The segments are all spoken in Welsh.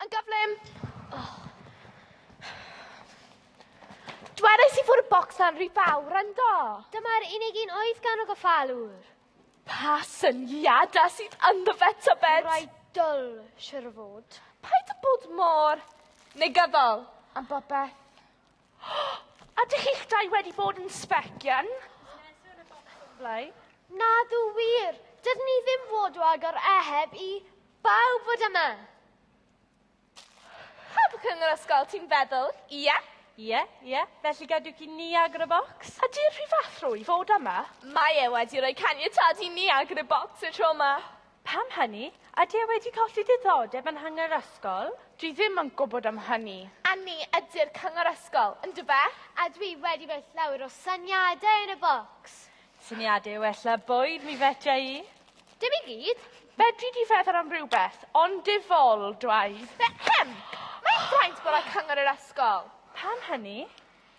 Yn gyflym! Oh. Dwedais i fod y bocs na'n rhy fawr, yndo? Dyma'r unig un oedd gan o goffalwr. Pa syniadau sydd ynddo fe, tybed? Rai dwl, siwr o fod. Paid â bod mor negyddol am bopeth. Ydych chi'ch dau wedi bod yn sbecian? Nadw wir, dydyn ni ddim fod o agor eheb i bawb fod yma. Cadwch yn yr ysgol, ti'n feddwl? Ie? Yeah? Ie, yeah, ie. Yeah. Felly gadwch i ni agor y bocs. A di'r rhyfathro i fod yma? Mae e wedi rhoi caniatad i ni agor y bocs y tro yma. Pam hynny? Ydy e wedi colli diddordeb yn Nhang yr Ysgol? Dwi ddim yn gwybod am hynny. A ni ydy'r Cyngor Ysgol, yndyfe? A dwi wedi rhoi llawer o syniadau yn y bocs. Syniadau o ella bwyd, mi fedra i. Dim i gyd. Fedri di feddwl am rhywbeth, ond difol, dwai. Be-hem! Mae fraint bod ar Cyngor yr Ysgol. Pam hynny?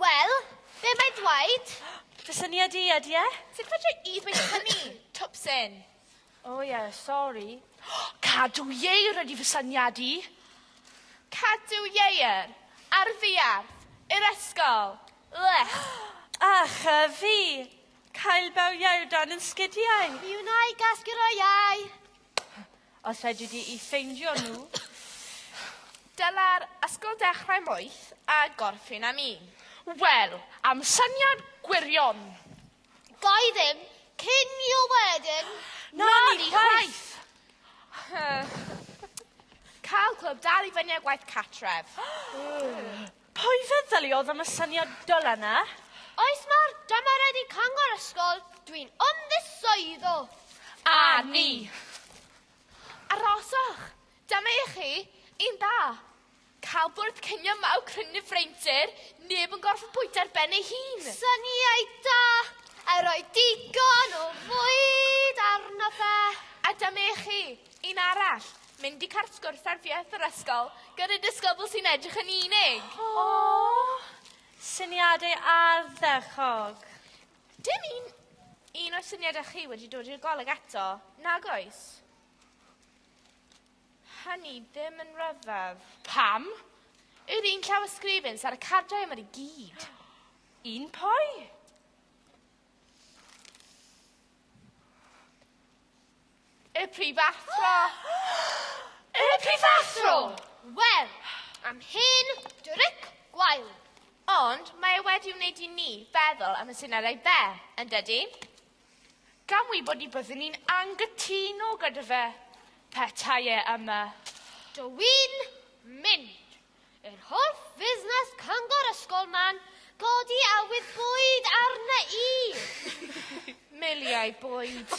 Wel, be mae dwaed? Fy syniad i, ydy e? Sut fedra i ddweud hynny, twpsyn? O oh, ie, yeah, sori. Cadw ieir ydy fy syniad i. Cadw ieir? Ar ddiarth? I'r ysgol? Lech! Ach, a fi! Cael bawiau o dan yn sgidiau! Mi wna i gasglu roi iau! Os fedri di i ffeindio nhw, dyla'r ysgol ddechrau moeth a gorffen am un. Wel, am syniad gwirion! Ga i ddim cinio wedyn! Na ni chwaith! Cael clwb dal i fyny a gwaith catref. Pwy feddyliodd am y syniad dylan na? Oes mae'r dymaredu cyngor ysgol, dwi'n ymddiswyddo. A ni. Aroswch, dyma i chi un da. Cael bwrdd cinio mawr cryn yn y freintir, neb yn gorfod bwyta ar ben ei hun. Syniau da, a roi digon o fwyd arno fe. A dyma i chi, Un arall, mynd i cart sgwrs ar fieth yr ysgol gyda disgybl sy'n edrych yn unig. Aww! Syniadau ardderchog. Dim un, un o'r syniadau chi wedi dod i'r goleg eto, nag oes? Hynny ddim yn rhyfedd. Pam? Yr un llaw ysgrifin sy'n ar y cardiau yma i gyd. Un pwy? Y prifathro! y prifathro! Wel, am hen dryc gwael. Ond mae e wedi wneud i ni feddwl am y sinerau be, yn dydy? Gan wybod ni byddwn ni'n anghytuno gyda fe, petai e yma. Dw i'n mynd. Yr holl fusnes cyngor ysgol ma'n godi awydd bwyd arna i. Miliau bwyd.